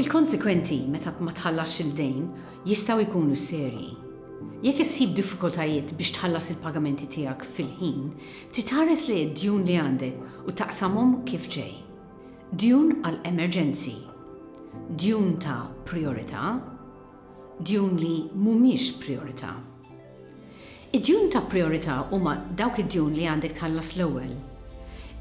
Il-konsekwenti meta ma tħallasx il-dejn jistgħu jkunu serji. Jekk issib diffikultajiet biex tħallas il-pagamenti tiegħek fil-ħin, trid tħares lejn id-djun li għandek u taqsamhom kif ġej. Djun għal emerġenzi, djun ta' prijorità, djun li mhumiex prijorità. Id-djun ta' prijorità huma dawk id-djun li għandek tħallas l-ewwel.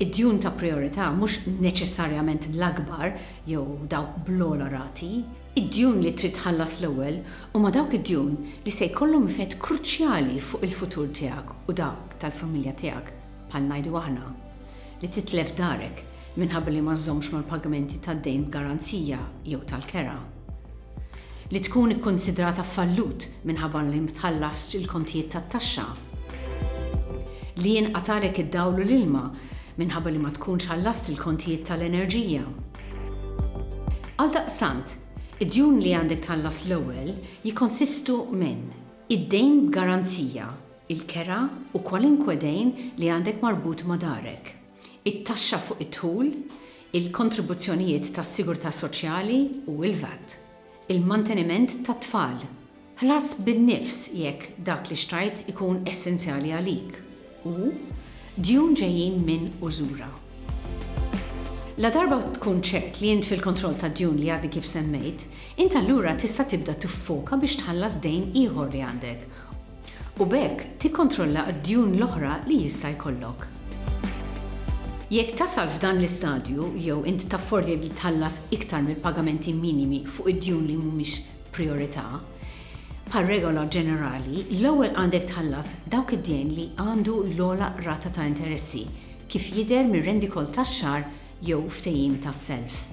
Id-djun ta' prijorità mhux neċessarjament l-akbar jew dawk bl-ogħla rati. Id-djun li trid tħallas l-ewwel huma dawk id-djun li se jkollhom effett kruċjali fuq il-futur tiegħek u dak tal-familja tiegħek. bħal ngħidu aħna, li titlef darek minħabba li ma żżommx mal-pagamenti tad-dejn b'garanzija jew tal-kera, li tkun ikkunsidrata fallut minħabba li ma tħallasx il-kontijiet tat-taxxa, li jinqgħat għalek id-dawl u l-ilma minħabba li ma tkunx ħallast il-kontijiet tal-enerġija. Għaldaqstant, id-djun li għandek tħallas l-ewwel jikkonsistu minn id-dejn b'garanzija, il-kera u kwalunkwe dejn li għandek marbut ma' darek, it-taxxa fuq id-dħul, il-kontribuzzjonijiet tas-sigurtà soċjali u l-VAT, il-manteniment tat-tfal. Ħlas bin-nifs jekk dak li xtrajt ikun essenzjali għalik u djun ġejjin minn użura. Ladarba tkun ċert li int fil-kontroll tad-djun li għadni kif semmejt, int allura tista' tibda tiffoka biex tħallas dejn ieħor li għandek u b'hekk tikkontrolla d-djun l-oħra li jista' jkollok. Jekk tasal f'dan l-istadju jew int taffordja li tħallas iktar mill-pagamenti minimi fuq id-djun li mhumiex prijorità, bħal regola ġenerali, l-ewwel għandek tħallas dawk id-dejn li għandu l-ogħla rata ta' interessi, kif jidher mir-rendikont tax-xahar jew ftehim ta' self.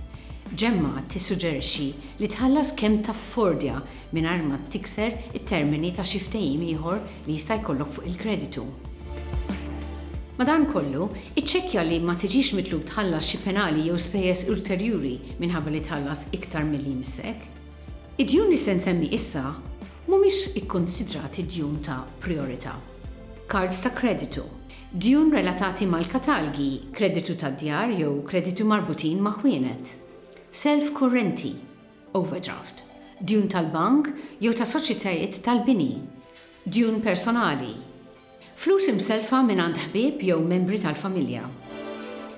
Gemma tissuġġerixxi li tħallas kemm taffordja mingħajr ma tikser it-termini ta' xi ftehim ieħor li jista' jkollok fuq il-kreditu. Madankollu, iċċekkja li ma tiġix mitlub tħallas xi penali jew spejjeż ulterjuri minħabba li tħallas iktar milli jmissek. Id-djun li se nsemmi issa mhumiex ikkunsidrati djun ta' prijorità. Kards ta' kreditu. Djun relatati mal-katalgi, kreditu tad-djar jew kreditu marbutin ma' ħwienet. Self kurrenti, overdraft, djun tal-bank jew ta' soċjetajiet tal-bini. Djun personali, flus imsellfa mingħand ħbieb jew membri tal-familja.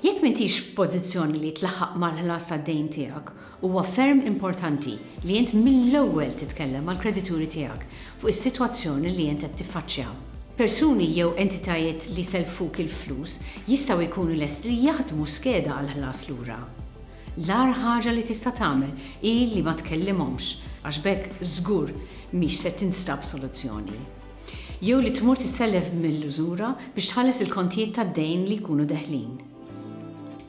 Jekk m'intix f'pożizzjoni li tlaħħaq mal-ħlas tad-dejn tiegħek Huwa ferm importanti li int mill-ewwel titkellem mal-kredituri tiegħek fuq is-sitwazzjoni li int qed tiffaċċja. Persuni jew entitajiet li sellfuk il-flus jistgħu jkunu lesti li jaħdmu skeda għall-ħlas lura. L-agħar ħaġa li tista' tagħmel hi li ma tkellimhomx, għax b'hekk żgur mhix se tinstab soluzzjoni. Jew li tmur tissellef mill-użura biex tħalles il-kontijiet tad-dejn li jkunu deħlin.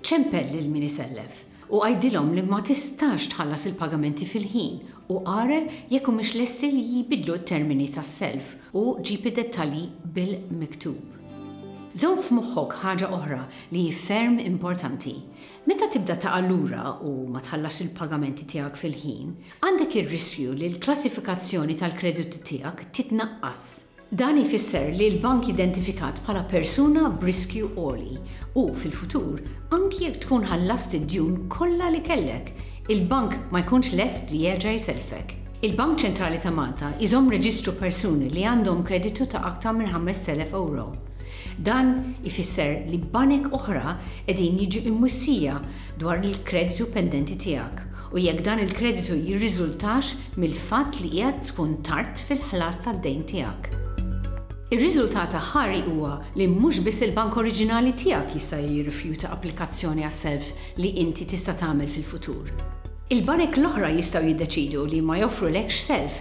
Ċempel lil min isellef. u għidilhom li ma tistax tħallas il-pagamenti fil-ħin u ara jekk humiex lesti li jbidlu t-termini tas-self u ġib id-dettalji bil-miktub. Żomm f'moħħok ħaġa oħra li hi ferm importanti, meta tibda taqa' lura u ma tħallasx il-pagamenti tiegħek fil-ħin, għandek ir-riskju li l-klassifikazzjoni tal-kreditu tiegħek titnaqqas. Dan ifisser li l-bank identifikat bħala persuna b'riskju għoli u, fil-futur, anki jekk tkun ħallast id-djun kollha li kellek, il-bank ma jkunx lest li jerġa' jsellfek. Il-Bank Ċentrali ta' Malta jżomm reġistru persuni li għandhom kreditu ta' aktar minn 5,000 ewro. Dan ifisser li banek oħra qegħdin jiġu imwissija dwar il-kreditu pendenti tiegħek u jekk dan il-kreditu jirriżultax mill-fatt li qiegħed tkun tard fil-ħlas tad-dejn tiegħek. Ir-riżultat aħħari huwa li mhux biss il-bank oriġinali tiegħek jista' jirrifjuta applikazzjoni għas-self li inti tista' tagħmel fil-futur. Il-banek l-oħra jistgħu jiddeċiedu li ma joffrulekx self